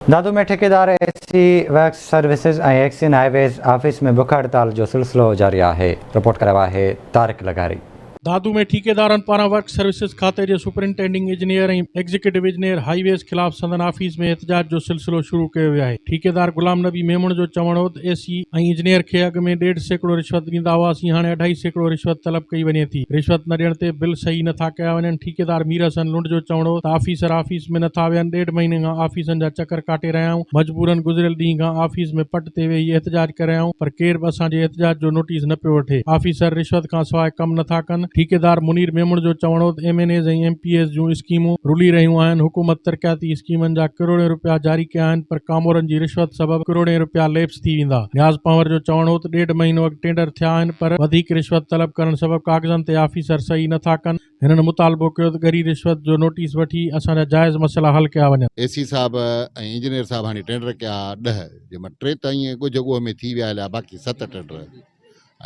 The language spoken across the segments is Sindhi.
دادو ۾ ٺيڪيدار A C works services ۽ XEN highways office ۾ بک هڙتال جو سلسلو جاري آهي، رپورٽ ڪرايو آهي طارق لغاري. دادو ۾ ٺيڪيدارن پاران ورڪس سروسز کاتي جي superintending engineer ۽ executive engineer highways خلاف سندن آفيس ۾ احتجاج جو سلسلو شروع ڪيو ويو آهي، ٺيڪيدار غلام نبي ميمڻ جو چوڻ هوت اي سي ۽ انجنيئر کي اڳ ۾ ڏيڍ سيڪڙو رشوت ڏيندا هئاسين هاڻي اڍائي سيڪڙو رشوت طلب ڪئي وڃي ٿي، رشوت نه ڏيڻ تي بل صحيح نه ٿا ڪيا وڃن، ٺيڪيدار مير حسن لنڊ جو چوڻ هو ته آفيسر آفيس ۾ نٿا ويهن، ڏيڍ مهيني کان آفيسن جا چڪر ڪاٽي رهيا آهيون، مجبورن گذريل ڏينهن کان آفيس ۾ پٽ تي ويهي احتجاج ڪري رهيا آهيون پر ڪير به اسان جي احتجاج جو نوٽيس نه پيو وٺي، آفيسر رشوت کان سواء ڪم نٿا ڪن، ٺيڪيدار منير ميمڻ جو چوڻ هو ته M N As ۽ M P As جون اسڪيمون رلي رهيون آهن، حڪومت ترقياتي اسڪيمن جا ڪروڙين رپيا جاري ڪيا آهن پر ڪامورن جي رشوت سبب ڪروڙين رپيا ليپس ٿي ويندا، نياز پنهور جو چوڻ هو ته ڏيڍ مهينو اڳ ٽينڊر ٿيا آهن پر وڌيڪ رشوت طلب ڪرڻ سبب ڪاغذن تي آفيسر صحيح نٿا ڪن، هنن مطالبو ڪيو ته ڳري رشوت جو نوٽيس وٺي اسان جا جائز مسئلا حل ڪيا وڃن. اي سي صاحب ۽ انجنيئر صاحب هاڻي ٽينڊر ڪيا ڏهه جنهن مان ٽي ته ائين ڳجهه ڳوهه ۾ ٿي ويا هليا باقي ست ٽينڊر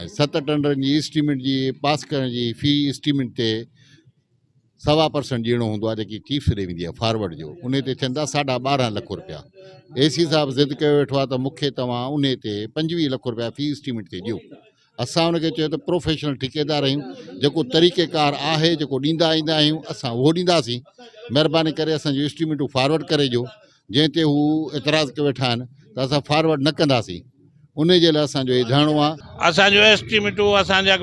۽ ست ٽينڊرن جي اسٽيمينٽ جي پاس ڪرڻ جي في اسٽيمينٽ تي سوا پرسنٽ ڏيڻو هوندو آهي جيڪي چيفس ڏي ويندي آهي فارورڊ جو ان تي ٿين ٿا ساڍا ٻارهن لک روپيا اي سي صاحب ضد ڪيو ويٺو آهي ته مونکي توهان ان تي پنجويهه لک روپيا في اسٽيمينٽ تي ڏيو اسان ان کي چيو ته پروفيشنل ٺيڪيدار آهيون جيڪو طريقه ڪار آهي جيڪو ڏيندا ايندا آهيون اسان اهو ڏينداسين مهرباني ڪري اسان جون اسٽيميٽون فارورڊ ڪري ڏيو جنهن تي هو اعتراض ڪيو ويٺا آهن ته اسان فارورڊ نه ڪنداسين ان جي لاء اسان جو هي ڌرڻو آهي اسان جون اسٽيميٽون اسان جا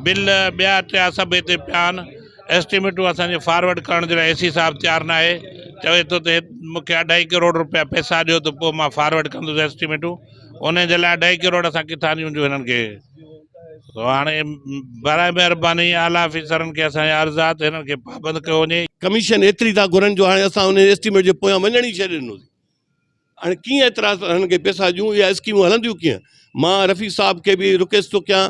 بل ٻيا ٽيا سڀ هتي پيا آهن اسٽيميٽون اسان جي فارورڊ ڪرڻ جي لاء اي سي صاحب تيار نه آهي چوي ٿو ته مون کي اڍائي ڪروڙ روپيا پئسا ڏيو ته پوء مان فارورڊ ڪندس اسٽيميٽون انهيء جي لاء ڏهه ڪروڙ اسان ڪٿان ڏيون جو هنن کي؟ هاڻي برائي مهرباني اعليٰ آفيسرن کي اسان جا عرض آ ته هنن کي پابند ڪيو وڃي. ڪميشن ايتري ٿا گهرن جو هاڻي اسان انهيء اسٽيميٽ جي پويان وڃڻ ئي ڇڏي ڏنو سين. هاڻي ڪيئن ايترا هنن کي پيسا ڏيون؟ اها اسڪيمون هلنديون ڪيئن؟ مان رفيق صاحب کي به رڪويسٽ ٿو ڪيان.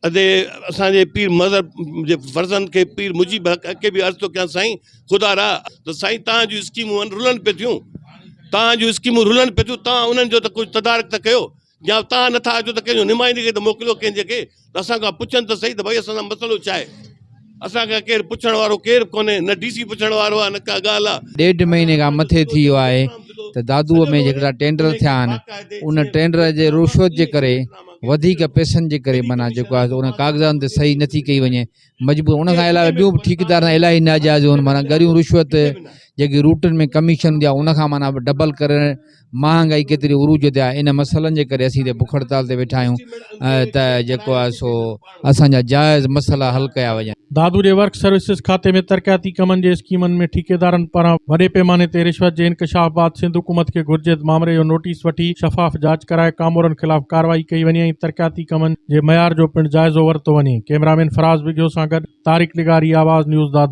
ادي اسان جي پير مظهر جي فرزند کي پير مجيب حق اڪي به عرض ٿو ڪيان سائين خدا را ته سائين تان جو اسڪيمون رلن پي ٿيون تان جو اسڪيمون رلن پي ٿيون تان انهن جو ته ڪجهه تدارڪ ته ڪيو يا تان نٿا اچو ته ڪنهن جو نمائندي کي ته موڪليو ڪنهن جي کي ته اسان کان پڇن ته سهي ته ڀائي اسان سان مسئلو ڇا آهي اسان کان ڪير پڇڻ وارو ڪير به ڪونهي، نه ڊي سي پڇڻ وارو آهي نه ڪا ڳالهه آهي. ڏيڍ مهيني کان مٿي ٿي ويو آهي ته دادوء ۾ جيڪڙا ٽينڊر ٿيا آهن ان ٽينڊر جي رشوت جي ڪري وڌيڪ پئسن جي ڪري معنيٰ جيڪو آهي سو انهن ڪاغذاتن تي صحيح نٿي ڪئي وڃي مجبور ان کان علاوه ٻيون به ٺيڪيدار سان الاهي ناجائزون معنيٰ ڳريون رشوت جيڪي روٽن ۾ ڪميشن هوندي آهي ان کان معنيٰ ڊبل ڪرڻ مهانگائي ڪيتري عروج تي آهي ان مسئلن جي ڪري اسين هتي بک هڙتال تي ويٺا آهيون ته جيڪو آهي سو اسان جا جائز مسئلا حل ڪيا وڃن. دادو جي ورڪ سروسز کاتي ۾ ترقياتي ڪمن جي اسڪيمن ۾ ٺيڪيدارن پاران وڏي پيماني تي رشوت جي انڪشاف بعد سنڌ حڪومت کي گهرجي ته مامري جو نوٽيس وٺي شفاف جاچ ڪرائي ڪامورن خلاف ڪارروائي ڪئي وڃي ۽ ترقياتي ڪمن جي معيار جو پڻ جائزو ورتو وڃي ڪئميرامين فراز وگهيو سان گڏ طارق لغاري آواز نيوز دادو